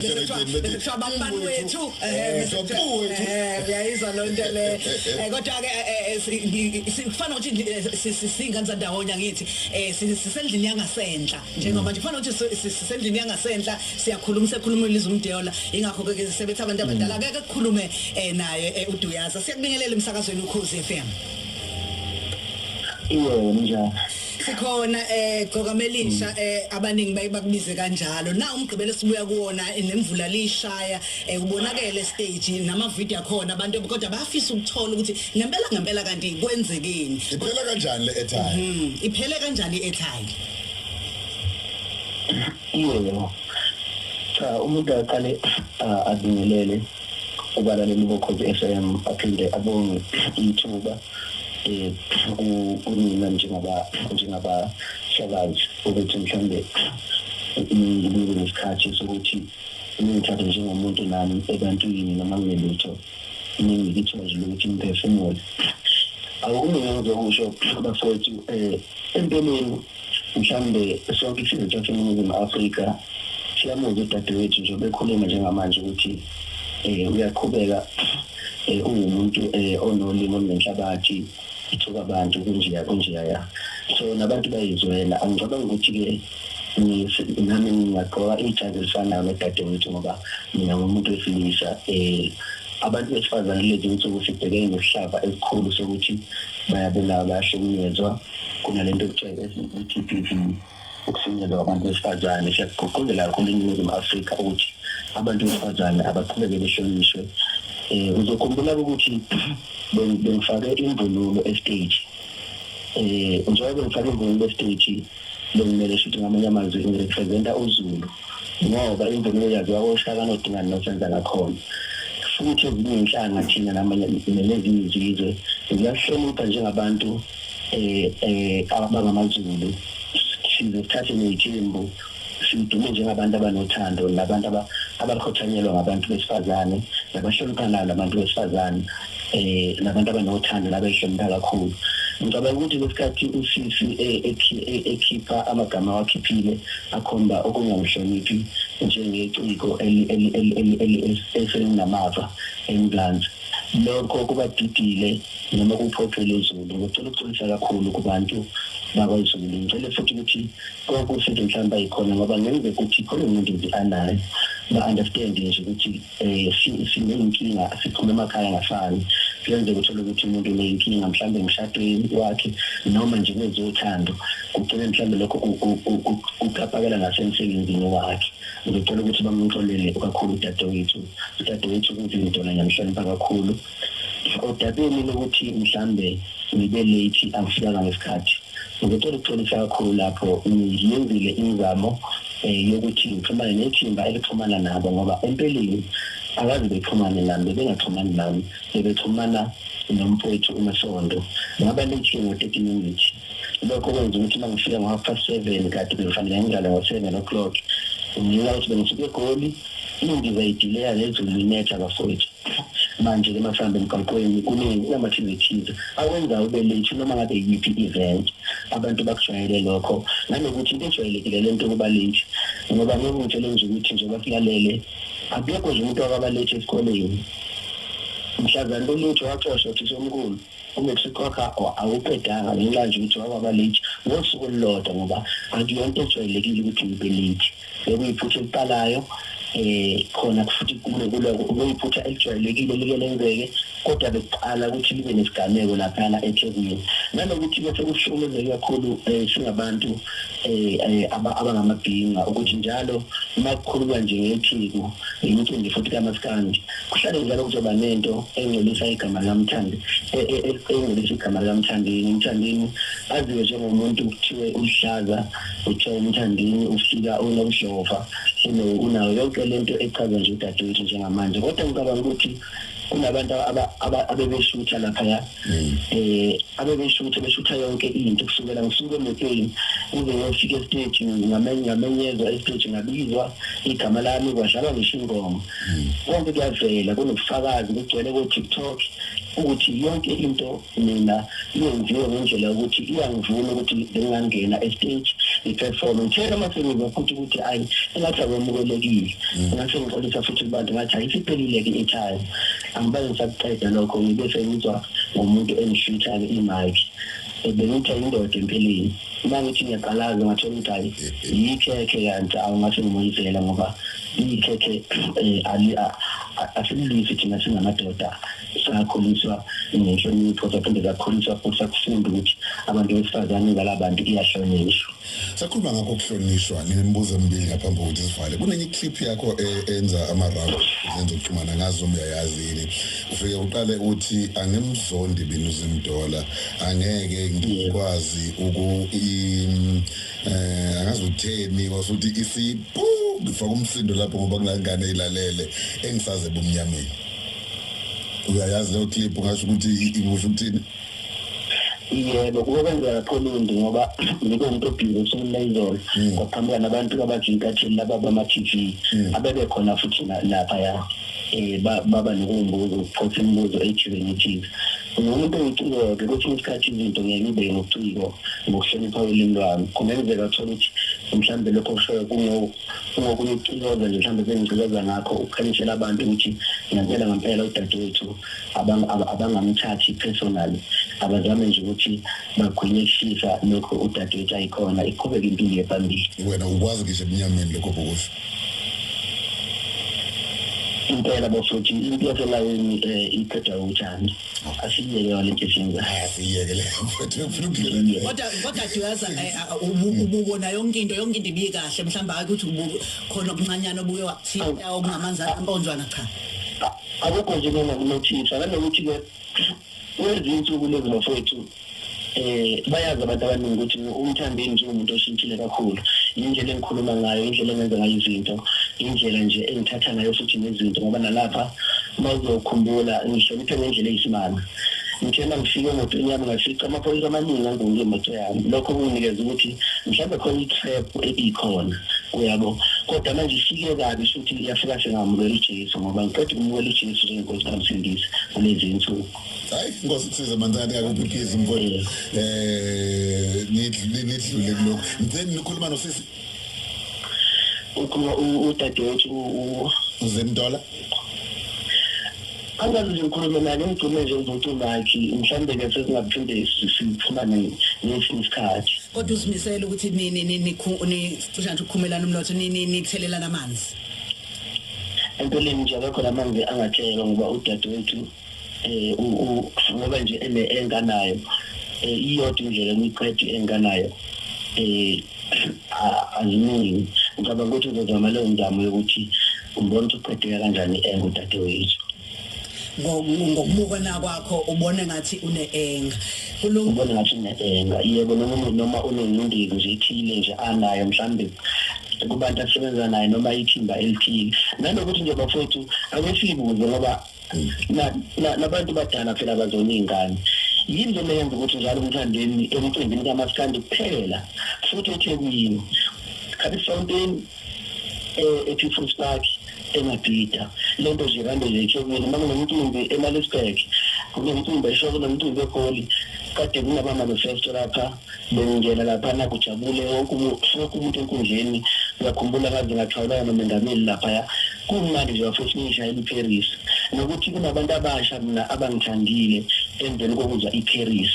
mhlabani wethu uyayizwa loo nto le kodwa-ke kufana ukuthi siyingane zandawonye angithi um sisendlini yangasenhla njengoba nje kufana ukuthi sisendlini yangasenhla siyakhuluma sekhuluma uliza umdeola yingakho-ke ke sisebethi abantu abadala keke kukhulume um naye uduyaza siyakubingelela emsakazweni ukhozi f m iye njalo sikhona eh gqokamelisha mm. eh abaningi baye bakubize kanjalo na umgqibelo sibuya kuwona eh, nemvula lishaya eh ubonakele stage nama video akhona abantu kodwa bayafisa ukuthola ukuthi ngempela ngempela kanti kwenzekeni iphela kanjani le airtime mhm iphele kanjani i airtime yebo cha umuntu aqale ah, abingelele ubalalela ubokhozi FM aphinde abonge ithuba eh, kunina njengabahlakazi ukuthi mhlawumbe ngibe nesikhathi sokuthi ningithathe njengomuntu nami ebantwini noma nginelutho ningikithozile ukuthi ngiphefumule akulungile ukusho bafowethu um empeleni mhlawumbe sonke isizwe saseningizimu afrika siyamuzwa udadewethu nje bekhuluma njengamanje ukuthi um uyaqhubeka um ungumuntu um onolimi olunenhlabathi ithuka abantu kunjeya kunjeya ya so nabantu bayizwela angicabanga ukuthi-ke nami ngingagqoka ijazi elifanayo nodadewethu ngoba mina ngumuntu wesilisa um abantu besifazane lezi nsuku sibhekene nesihlava esikhulu sokuthi bayabulawa bayahlukunyezwa kunalento okuthiwa i-GBV ukufinyelela kwabantu besifazane siyakugqugquzela kakhulu eningizimu afrika ukuthi abantu besifazane abaqhubeke behlonishwe um uzokhumbula ukuthi bengifake imvunulo estage um njengoba bengifake imvunulo estage bekumele shuthi ngamanye amazwi ngirepresenta uzulu ngoba imvunulo yaziwa koshaka nodingane nosenza ngakhona futhi ezinye inhlanga thina namanye nezinye izizwe ziyahlonipha njengabantu eh eh abangamazulu size sithathe nezithembu sidume njengabantu abanothando nabantu abakhothanyelwa ngabantu besifazane nabahloniphanayo nabantu besifazane eh nabantu abanothando nabehlonipha kakhulu ngicabanga ukuthi lesikhathi usisi eh, eh, ekhipha amagama awakhiphile akhomba okungamhloniphi njengeciko eselinamava englanzi lokho kubadidile noma kuphoxile izulu ngicela ukuxolisa kakhulu kubantu bakwazulu ngicele futhi ukuthi kokusithi mhlawumbe ayikhona ngoba ngenzeka ukuthi khona umuntu nje anayo ba-understand nje ukuthi um siney'nkinga siphuma emakhaya angafani kuyenzeka uthole ukuthi umuntu uney'nkinga mhlawumbe emshadweni wakhe noma nje kwezothando kugcine mhlawumbe lokho kuqapakela nasemsebenzini wakhe ngicela ukuthi bamxolele kakhulu udadewethu udadewethu kuzinto nanyamhlonipha kakhulu odabeni lokuthi mhlambe ngibe late angifikanga ngesikhathi ngicela ukuxolisa kakhulu lapho ngiyenzile imizamo um yokuthi ngixhumane nethimba elixhumana nabo ngoba empeleni akazi bexhumane nami bebengaxhumani nami bebexhumana nomfowethu umasondo ngaba late ngo-thirty minutes lokho kwenza ukuthi uma ngifika ngo-half past seven kade bengifanele ngidlale ngo-seven o'clock ngenxa ukuthi bengisuke egoli indiza idileya lezulu linetha bafowethu manje ke masihamba emgaqweni kuningi kunama-activities awenza ube late noma ngabe yiphi i-event abantu bakujwayele lokho nanokuthi into ejwayelekile le nto yokuba late ngoba ngokungitshele nje ukuthi nje bakulalele akekho nje umuntu wakaba late esikoleni mhlazana lolutho waxoshwa uthisha omkhulu umexico wakho awuqedanga ngenxa nje ukuthi wakwaba late ngosuku olulodwa ngoba akuyonto ejwayelekile ukuthi ngibe late bekuyiphutha eliqalayo eh khona futhi kule kule kuyiphutha elijwayelekile like lenzeke kodwa bekuqala ukuthi libe nesigameko laphana eThekwini nanokuthi bese kuhlukumezeke kakhulu eh, singabantu eh, eh, abangamabhinga ukuthi njalo uma kukhululwa nje ngeTheku imicimbi futhi kamaskandi kuhlale njalo kuzoba nento engcolisa igama likamthandi engcolisa igama likamthandini umthandini aziwe njengomuntu kuthiwe uhlaza kuthiwa umthandini ufika unobudlova unayo yonke le nto echazwa nje udadewethu njengamanje kodwa ngicabanga ukuthi kunabantu abebeshutha laphaya um eh, abebeshutha beshutha yonke into kusukela ngisuke emotweni kuze ngiyofika esiteji ngamenyezwa esiteji ngabizwa igama lami kwadlalwa ngisho ingoma hmm. konke kuyavela kunobufakazi kugcwele ko-tiktok ukuthi yonke into mina iyenziwe ngendlela yokuthi iyangivuna ukuthi bengingangena estage ngiperforme ngithe noma sengiza futhi ukuthi ayi engathi akwamukelekile mm. ngase ngixolisa futhi kubantu ngathi ayisiphelile-ke ithayo angibaze ngisakuqeda lokho ngibe sengizwa ngomuntu engishutha-ke imike bengithe indoda empilweni uma ngithi ngiyaqalaza ngathola ukuthi hayi yikhekhe kanti awungase ngimoyizela ngoba ikhekhe um eh, asililwisi thina singamadoda sakhuliswa ngenhlonipho saphinde sakhuliswa futhi sakufunda ukuthi abantu besifazane balabantu iyahlonishwa sakhuluma ngakho kuhlonishwa ngemibuzo emibili ngaphambi kokuthi sivale kunenye iclip yakho e, enza ama-round zenza ukuxhumana ngazi noma uyayazi yini ufike uqale uthi angimzondi binuzimdola angeke ngikwazi uku um angazi utheni wasuthi isipu ngifaka umsindo lapho ngoba kunangane ilalele engisaze bumnyameni uyayazi leyo clip ungasho ukuthi ikusho ukuthini yebo kuke kwenzeka pholundi ngoba ngike umuntu obhizi usukuleyizolo hmm. kwaqhamuka nabantu abajinkathini laba bama-tv hmm. abebe khona futhi lapha ya um baba nokuwumbuzo ukuphotha imibuzo ejuvenitile ngumuntu engicikoke kwesinye isikhathi izinto ngeke ibe ngobuciko ngokuhlonipha ulimi lwami kungenzeka thole ukuthi mhlawumbe lokho kushoyo kungokunye ukucinoza nje mhlawumbe bengicikoza ngakho ukukhanyisela abantu ukuthi ngempela ngempela udadewethu abangamthathi personally abazame nje ukuthi bagwinyisisa lokho udadewethu ayikhona iqhubeke impilo yephambili wena ukwazi ngisho ebunyameni lokho bokuthi impela bafuthi into yaselayini um eh, iqeda uthando asiyeke wale geshenza asiyeke le kodwa kodwa duyaza eh, ah, ubuko na yonke into yonke into ibiye kahle mhlawumbe ukuthi ubuko khona okuncanyana obuye wakuthinta okungamanzi amponjwana cha akukho nje mina nginothisa nanokuthi ke kwezinsuku lezi bafowethu eh bayazi abantu abaningi ukuthi umthandeni njengomuntu oshintshile kakhulu indlela engikhuluma ngayo indlela engenza ngayo izinto indlela nje engithatha ngayo futhi nezinto ngoba nalapha bazokhumbula ngihloniphe ngendlela eyisimanga ngithena ngifike emotweni yami ngafica amaphoyisa amaningi angibuke imoto yami lokho kunginikeza ukuthi mhlawumbe khona i-trap ebikhona uyabo kodwa manje ifike kabi futhi iyafika sengamukela ujesu ngoba ngiqeda ukumukela ujesu njengenkosi kamsindisi kulezi nsuku hayi nkosi kusize manzani kakuphiphisa mfowethu um eh, nidlule kulokhu ngitheni nikhuluma nosisi ukhuluma udadewethu uzemdola angazi nje ngikhulume naye ngimgcine nje uzothi unakhi mhlawumbe ke sesingaphinde siphumane ngesinye isikhathi kodwa uzimisele ukuthi nini nini cisha nje ukukhumelana umnotho nini nithelelana amanzi empeleni nje akekho la manzi angathelwa ngoba udadewethu eh ngoba nje ene enganayo eh iyodwa indlela emiqedi enganayo eh azimini ngicabanga ukuthi uzozama leyo nzamo yokuthi umbona ukuthi uqedeka kanjani engudadewethu ngokubukana kwakho ubone ngathi uneenga ubone ngathi uneenga yebo noma noma unengcindezi nje ithile nje anayo mhlambe kubantu asebenza naye noma ithimba elithile nanokuthi nje bafowethu akwesibuze ngoba nabantu badala phela bazona iy'ngane yini lena yenza ukuthi njalo umthandeni emcimbini kamaskandi kuphela futhi ethekwini khathi fountain e-people's park emabhida le nto nje kande nje ethekwini uma kunomcimbi emalisburg kunomcimbi eshoko nomcimbi egoli kade kunaba-manifesto lapha bengingena laphana kujabule wonke umuntu enkundleni ngiyakhumbula ngaze ngathwalana nomengameli laphaya kumnandi nje bafethu ngishayela iparis nokuthi kunabantu abasha mina abangithandile emveni kokuzwa iparis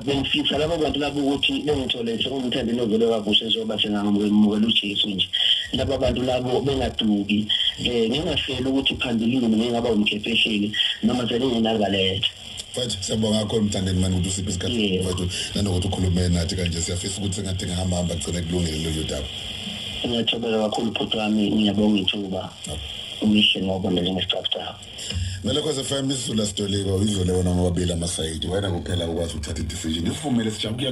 bengifisa labo bantu labo ukuthi bengithole sengumthandeni ovele wavusha ezoba sengangamukela ujesu nje laba bantu labo bengaduki um ngingafeli ukuthi phambilini mina ngingaba umkhephehleli noma selingenakaletha mfethu siyabonga kakhulu mthandeni mani ukuthi usiphe isikhathi mfethu nanokuthi ukhulume nathi kanje siyafisa ukuthi sengathi ngihamba hamba kugcine kulungile lolu daba ngiyajabula kakhulu bhuti wami ngiyabonga ithuba umihle ngoba njengesicabutabo nalokho sefm isizulu asidoliwe uyizole wona ngobabili amasayidi wena kuphela ukwazi ukuthatha idecision isivumele sijabula